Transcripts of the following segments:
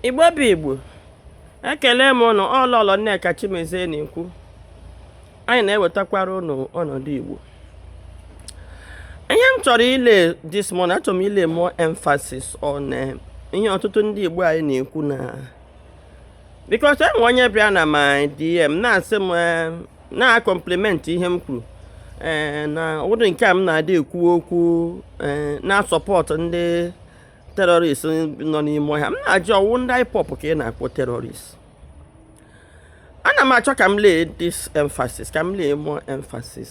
igbo bụ igbo ekele m ụnụ ọ lọlọ nneka chimezie na-ekwu anyị na-ewetakwara ụnụ ọnọdụ igbo ihe m chọrọ ịlay this morning achọrọ m ịlay more emphasis on eh, ihe ọtụtụ ndị igbo anyị na-ekwu na because enwe onye bịa na my DM na-asị m eh, na-akọmpliment ihe m kwuru ee eh, na ụdị nke a m na-adị ekwu okwu eh, na-asupport ndị terrorist nọ n'ime ọhịa m na-ajụ ọ wụ ndị IPOB ka ị na-akpọ terrorist ana m achọ ka m lay this emphasis ka m lay more emphasis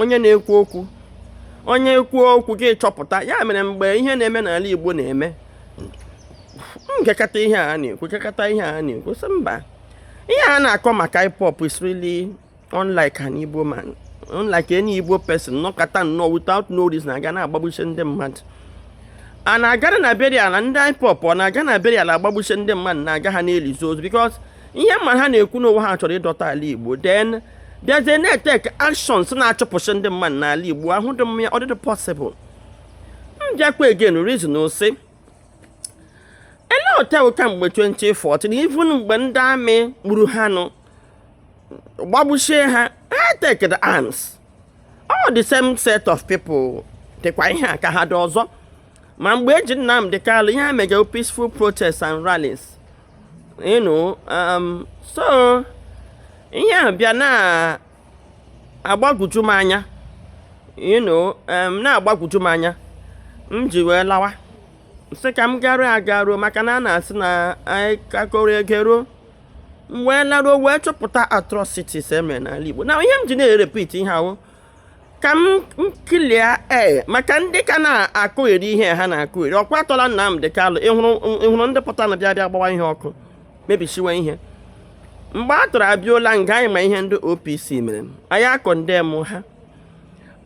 onye na-ekwu okwu onye ekwu okwu gị chọpụta ya mere mgbe ihe na-eme n'ala Igbo na-eme m gekata ihe a na-ekwu m gekata ihe a na-ekwu sị mba ihe a na-akọ maka IPOB is really unlike an Igbo man unlike any Igbo person nọkata nnọọ without no reason aga na-agbagbushi ndị mmadụ a na-agara na burial na ndị IPOB ọ na-aga na burial agbagbushi ndị mmadụ na-aga ha na-elizi ozu because ihe m mara ha na-ekwu na ọ wụ ha chọrọ ịdọta ala igbo then bịazie na-etek actions na-achụpụsị ndị mmadụ n'ala igbo ahụ dị mma ọ dịdị possible m bịakwa again reason sị e lete kamgbe 2014 even mgbe ndị army gburu ha nụ gbagbusie ha ha take arms all the same set of people dịkwa ihe a ka ha dị ọzọ ma mgbe eji Nnamdi Kanu ihe a mega peaceful protests and rallies you know um, so ihe a bịa na-agbagwoju m anya you know um, na-agbagwoju m anya m ji wee lawa sị ka m garuo agaru maka na a na-asị na anyị ka a kọrọ e geruo m wee laruo wee chọpụta atrocities emere n'ala Igbo na ihe m ji na-erepeat ihe a wụ ka m clear ee eh, maka ndị ka na-akụgheri ihe ha na-akụgheri ọ kwa atọla Nnamdi Kalụ ịhụrụ ndị pụtanụ bịa bịa gbawa ihe ọkụ mebisiwe ihe mgbe a tụrụ abịola nga anyị ma ihe ndị OPC mere anyị akọ ndị m ha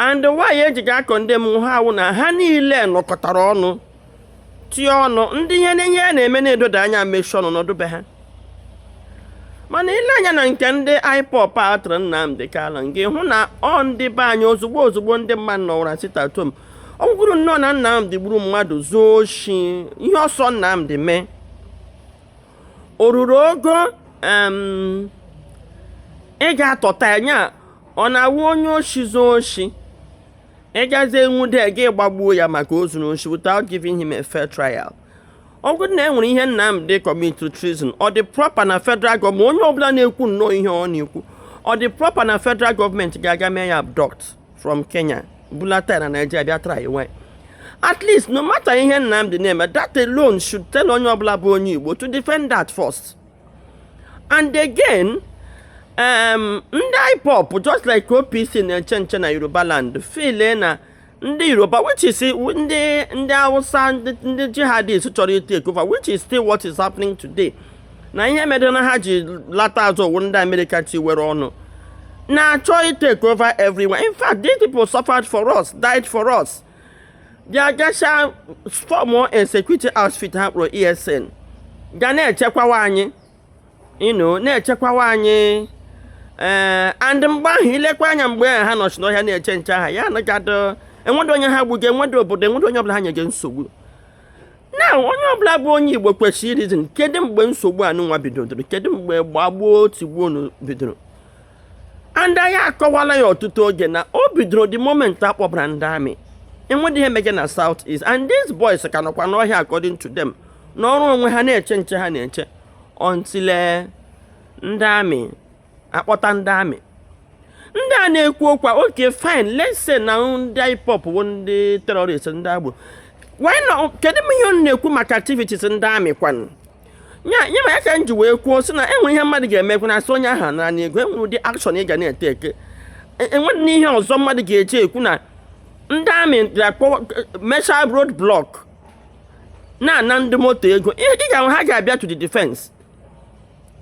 and why ejighị akọ ndị m ha awụ na ha niile nọkọtara ọnụ tie ọnụ ndị ihe n'ihe a na-eme na-edoda anya mechie ọnụ n'ọdụ be ha mana i lee anya na nke ndị IPOB a tụrụ Nnamdi Kanu gị hụ na ọ ndị be anyị ozugbo ozugbo ndị mmadụ nọwara sit-at-home ọ wụrụ nnọọ na Nnamdi gburu mmadụ zuo oshi ihe ọ sọ Nnamdi mee o ruru ogo ị ga-atọta anya ọ na-awụ onye oshi zuo oshi ị gazie nwude ya ị gbagbuo ya maka o zuru oshi without giving him a fair trial ọ bụrụ na e nwere ihe Nnamdi kọmiti treason ọ dị proper na federal gọọmenti onye ọbụla na-ekwu nnọọ ihe ọ na-ekwu ọ dị proper na federal gọọmenti ga-aga mee ya abduct from Kenya bulata na Nigeria bịa trywe at least no matter ihe Nnamdi na-eme that alone should tell onye ọbụla bụ onye Igbo to defend that first and again um, ndị IPOB just like OPC na-eche nche na Yoruba land feel na ndị Yoruba which is ndị ndị Hausa ndị jihadist chọrọ ị take over which is still what is happening today na ihe mere na ha ji lata azụ ọ wụ ndị America tiwere ọnụ na-achọ ị take over everywhere in fact these people suffered for us died for us bịa gacha fọmụ security outfit ha kpọrọ ESN ga na-echekwawa anyị you know na-echekwawa anyị ee eh, and mgbe ahụ i lekwa anya mgbe ahụ ha nọchi n'ọhịa na-eche nche aha ya anagadị enwedị onye ha gbuga enwedị obodo enwedị onye ọbụla ha nyega nsogbu na onye ọbụla bụ onye igbo kwesịrị ị reason kedu mgbe nsogbu anụnwa bidoro kedu mgbe gbagbuo tigbuo bidoro and anyị akọwala ya ọtụtụ oge na o bidoro the moment a kpọbara ndị amị enweghị ihe mege na south east and these boys ka nọkwa n'ọhịa according to them nọrọ onwe ha na-eche nche ha na-eche until eh, ndị amị a kpọta ndị amị ndị a na-ekwu okwu a okay fine let's say na ndị IPOB bụ ndị terrorist ndị agboro why not kedu ihe unu na-ekwu maka activities ndị amị kwanụ ya nye ma ya ka m ji wee kwuo sị na enwere ihe mmadụ ga-emekwu na asị onye ahụ nara n'ego enwere ụdị akshọn ị ga na-etake enwere na ihe ọzọ mmadụ ga-eji ekwu na ndị amị ga-akpọ mechaa road blọk na-ana ndị moto ego ị ga-ahụ ha ga-abịa to the defense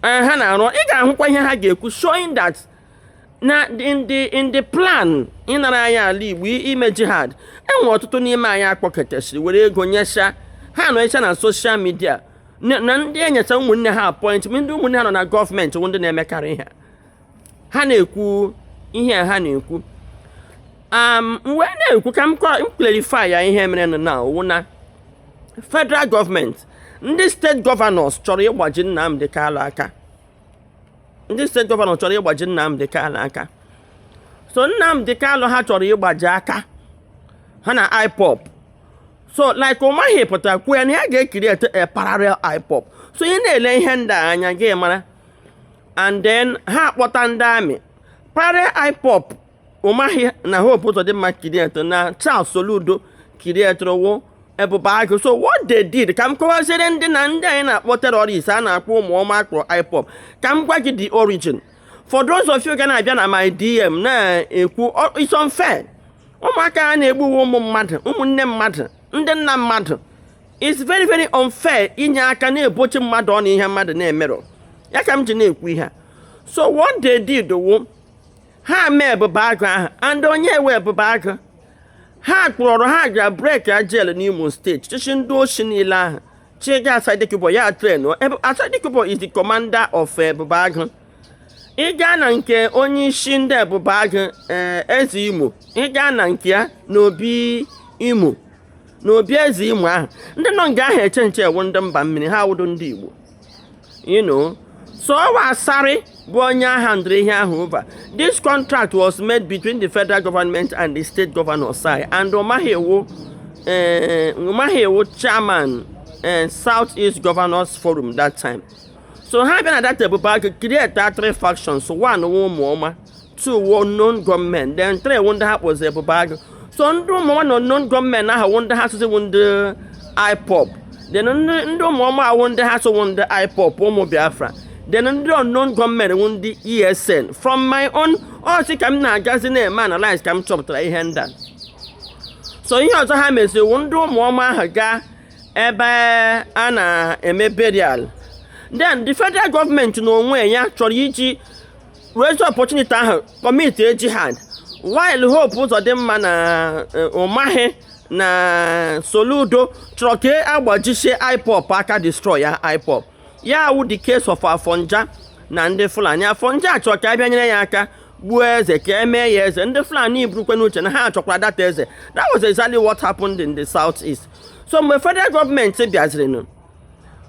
ha na-arụ ị ga-ahụkwa ihe ha ga-ekwu showing that na ndị plan ịnara anyị ala igbo ime jihad enwere ọtụtụ n'ime anyị a kpọkọtasịrị were ego nyesa ha nọcha na soshal midia na ndị enyecha ụmụnne ha apọịntment ndị ụmụnne ha nọ na gọọmenti ndị na-emekarị ha ha na-ekwu ihe ha na-ekwu Um, mgbe na-ekwu ka m clarify ya ihe mere na ọ wụ na federal gọọmenti ndị steeti gọvanọs chọrọ ịgbaji Nnamdi Kanu aka ndị steeti gọvanọ chọrọ ịgbaji Nnamdi Kanu aka so Nnamdi Kanu ha chọrọ ịgbaji aka ha na IPOB so like Umahi pụtara kwuo ya na ya ga-ecreate a parallel IPOB so ị na-ele ihe ndị a anya ị ga-amara and then ha akpọta ndị amị parallel IPOB Umahi na Hope Uzodinma createre na Charles Soludo createre wụ Ebube Agụ so what they did ka m kọwaziere ndị na ndị anyị na-akpọ terrorist a na-akpọ ụmụ ọma akpọrọ IPOB ka m gwa gị the origin for those of you ga na-abịa na my DM na-ekwu it's unfair ụmụaka a na-egbuwe ụmụ mmadụ ụmụnne mmadụ ndị nna mmadụ it's very very unfair inye aka na-ebochi mmadụ ọ na ihe mmadụ na-emeghị ya ka m ji na-ekwu ihe so what they did wụ ha mee ebube agụ ahụ and onye nwe ebube agụ ha kpọrọ ha gara breakia jail n'imo steeti chịchị ndị oshi niile ahụ chịga asari dokubo ya train asari dokubo is the commander of ebube agụ ịga na nke onye isi ndị ebube agụ eh, eze imo ịga na nke ya n'obi imo n'obi eze imo ahụ ndị nọ nga ahụ eche nche wụ ndị mba mmiri ha awụdo ndị igbo you know so ọ wụ Asari bụ onye a handịrị ihe ahụ over this contract was made between the federal government and the state governors eh and Umahi wụ eh, Umahi wụ chairman eh, South East Governors Forum that time so ha bịa na that Ebube Agụ create three factions one ụmụ ọma two wụ unknown gunmen then three wụ ndị ha kpọzi ebube agụ so ndị ụmụọma na unknown gunmen ahụ wụ ndị ha sịzi wụ ndị ipob then ndị ndị ụmụọma awụ ndị ha sị wụ ndị ipob ụmụ biafra then ndị unknown gunmen wụ ndị esn from my own ọsị ka m na-agazi na-eme analyze ka m chọpụtara ihe ndị a so ihe ọzọ ha meziri wụ ndị ụmụọma ahụ gaa ebe a na-eme burial then the federal gọọmenti n'onwe ya chọrọ iji raise opportunity ahụ commitie jihad while hope uzodinma na eh, umahi na soludo chọrọ ka a gbajisie ipob aka destroyia ipob ya wụ the case of afonja na ndị fulani afonja chọrọ ka a bịa nyere ya aka gbuo eze ka e mee ya eze ndị fulani burukwe n'uche na ha chọkwara that eze that was exactly what happened in the south east so mgbe federal gọọmenti bịazirinụ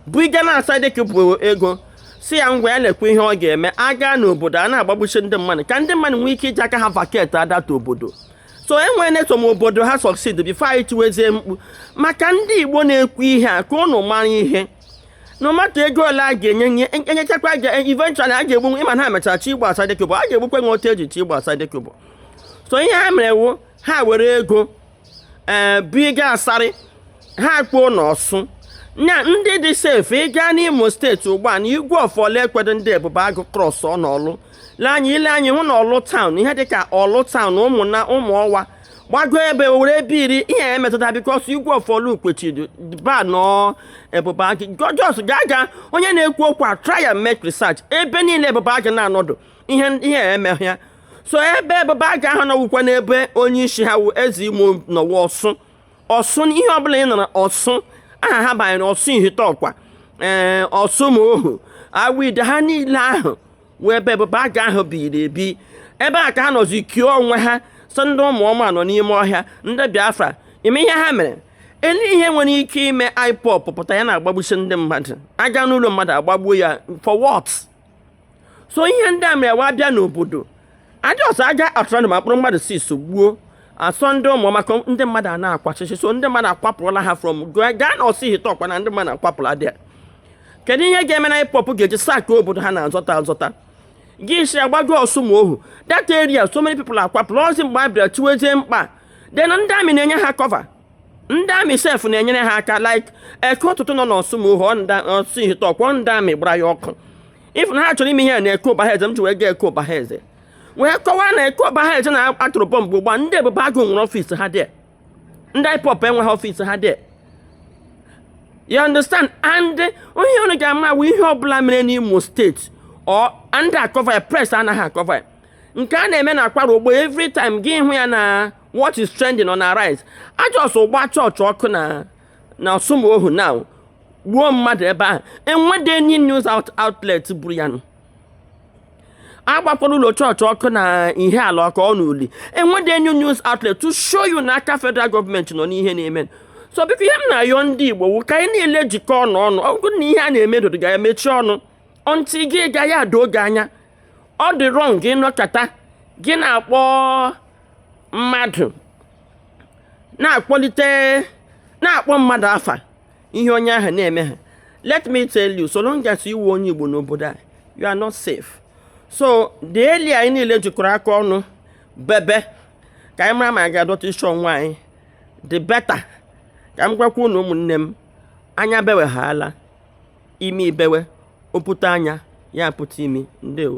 bugara asari dokubo ego sị ya ngwa lekwa ihe ọ ga-eme aga n'obodo a na-agbagbusi ndị mmadụ ka ndị mmadụ nwee ike iji aka ha vacate that obodo so e nwere some obodo ha succeed before anyị tiwezie mkpu maka ndị igbo na-ekwu ihe a ka ụnụ mara ihe no matter ego ole a ga-enye ụnụ e nyechakwa a ga eventually a ga-egbu ụnụ ị ma na ha mechara chọ igbu asari dokubo a ga-egbukwa ụnụ otu e ji chọ igbu asari dokubo so ihe ha mere wụ ha were ego ee buga asari ha kpoo na orsu na ndị dị safe ịga n'imo steeti ugbu a na igwe of orlu ekwedo ndị ebube agụ cross na orlu lee anya ị lee anya ị hụ na orlu town ihe dịka orlu town umuna umuowa gbago owerre ebeiri ihe emetụta because igwe of orlu kwechidu ban ebube agụ just ga aga onye na-ekwu okwu a try and make research ebe niile ebube agụ na-anọdụ ihe ihe eme ya so ebube agụ ahụ nọwụkwa n'ebe onye isi ha wụ eze imo nọwa ọsụ ọsụ ihe ọbụla ị nụrụ ọsụ aha ha banyere ọsụ ihite ụkwa ee ọsụmohu awide ha niile ahụ wụ ebe ebube agụ ahụ biri ebi ebe a ka ha nọzi kio onwe ha sị ndị ụmụ ọma nọ n'ime ọhịa ndị biafra mee ihe ha mere ele ihe nwere ike ime ipob pụta ya na-agbagbusi ndị mmadụ aga n'ụlọ mmadụ agbagbuo ya for what so ihe ndị a mere wa bịa n'obodo a jọs aga atụrụ mkpụrụ mmadụ six gbuo a sị ọ ndị ụmụ ọma ka ndị mmadụ a na-akwachịchị so ndị mmadụ akwapụrụla ha from gaa na ọsụ ihite ụkwa na ndị mmadụ akwapụla dia kedu ihe ga-eme na ipob ga-eji sakị obodo ha na-azọta azọta gị si agbago ọsụmohu that area so many people akwapụla ọzi mgbe a bịara chiwezie mkpa then ndị amị na-enye ha kọva ndị amị sef na-enyere ha aka like eke ụtụtụ nọ n'ọsụmohu na ọsụ ihite ụkwa ndị amị gbara ya ọkụ ị fụ na ha chọrọ ime ihe a na eke ụbahaeze m ji wee gaa eke ụbahaeze wee kọwaa na eke ụbahaeze na atụrụ bọmbụ ugbu a ndị ebube agụ nwere ọfịs ha dị ndị ipob enweghị ọfịs ha dị you understand and ihe unu ga-ama awụ ihe ọbụla mere n'imo steeti ọ ndị akọva ya pres anaghị akọva ya nke a na-eme na kwara ugbu a every time gị hụ ya na what is trending on arise a jọs gbaa chọọchị ọkụ na na ọsụmohu na gbuo mmadụ ebe ahụ enwede any news out outlet buru ya nụ agbakwara ụlọ chọọchị ọkụ na ihiala ọkụ ọ n'uli enwede any news outlet to show you na aka federal gọọmenti nọ n'ihe na-eme so biko ihe m na-ayọ ndị igbo wụ ka anyị niile jikọ ọnụ ọnụ ọ bụrụ na ihe a na-eme dodo ga emechi ọnụ until gị gaghị ada oge anya ọ dị rọng gị nọkata gị na-akpọ mmadụ na-akpọlite na-akpọ mmadụ afa ihe onye ahụ na-eme ha let me tell you so long as ị wụ onye Igbo n'obodo a you are not safe so the earlier anyị niile jikọrọ aka ọnụ bebe ka anyị mara ma anyị ga-adọta isi onwe anyị the better ka m gwakwa unu ụmụnne m anya bewe ha ala imi ebewe ọ pụta anya ya apụta imi ndewo